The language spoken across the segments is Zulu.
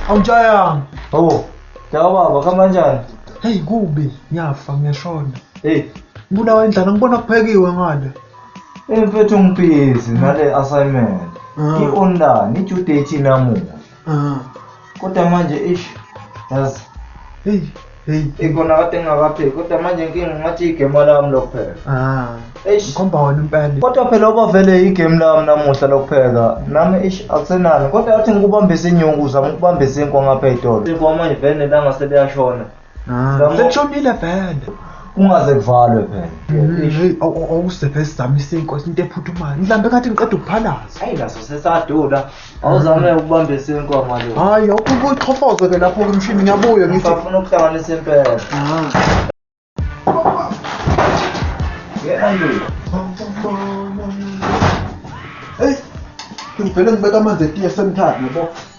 awutshayanga Oh, kaya baba kamanjani? heyi kubi ngiyafa ngiyashona Hey, ngibulawa indlala ngibona kuphekiwe ngale imfethu ngibhizi nale assignment. Ah. I-online, i-due date inamuhla. Mm. Kodwa manje ish yazi hey hey ikona kade ngingakapheki kodwa manje inkinga ngathi igame lami lokuphela. Ah. Eish. Khomba wena impela. Kodwa phela oba vele igame lami namuhla lokupheka. Nami ish akusenani kodwa athi ngikubambise inyuku zama ukubambisa inkwa ngapha etolo. Inkwa manje vele langa seliyashona. Ah, sekushonile vele. Ungaze kuvalwe phela. Mm, hey, awusephe sizamise inkosi into ephuthumayo. Mhlambe kathi ngiqeda ukuphalaza. Hayi naso sesadula. Awuzame ukubamba isinkomo lo. Hayi, awukho ukuxhofoza ke lapho ke mshini ngiyabuya ngithi. Ngifuna ukuhlanganisa impela. Ah. Andrew. Hey, ngivele ngibeka amanzi etiye semthathu yabo.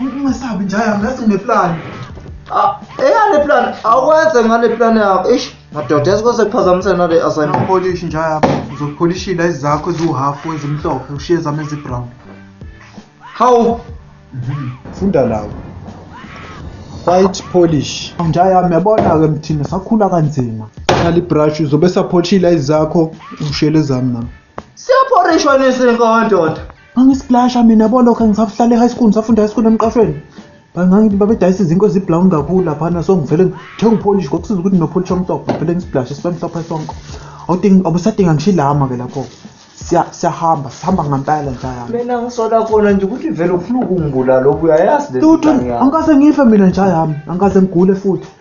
Ungasabi nja yami ngathi ngineplan. Ah, eyane plan awukwenze ngale plan yakho. Eish, madoda yazi kwase kuphazamisa nale assignment. Ungapolish nja yami. Uzopholishila izakho eziwuhalf wenza imhlophe ushiye zami ezibrown. Hawu, Funda lawo. White polish. Nja yami yabona ke mthina sakhula kanzima. Khali brush uzobe sapholishila izakho ushele zami nami. siyaphorishwa nesinkondoda. Ngangisiplasha mina bo lokho ngisahlala e-high school ngisafunda high school emqashweni. Bangangithi babedayisa izinkwe ezibrown kakhulu laphana so ngivele ngithenga upholishi ngokusiza ukuthi nopholishi omhlophe ngivele ngisiplashe sibe mhlophe sonke. Awudingi abusadinga ngisho ilama ke lapho. Siya siyahamba sihamba ngempela nje yami. Mina ngisola khona nje ukuthi vele ufuna ukungibulala obuyayazi le Lutho ngeke ngase ngife mina nje yami angikaze ngigule futhi.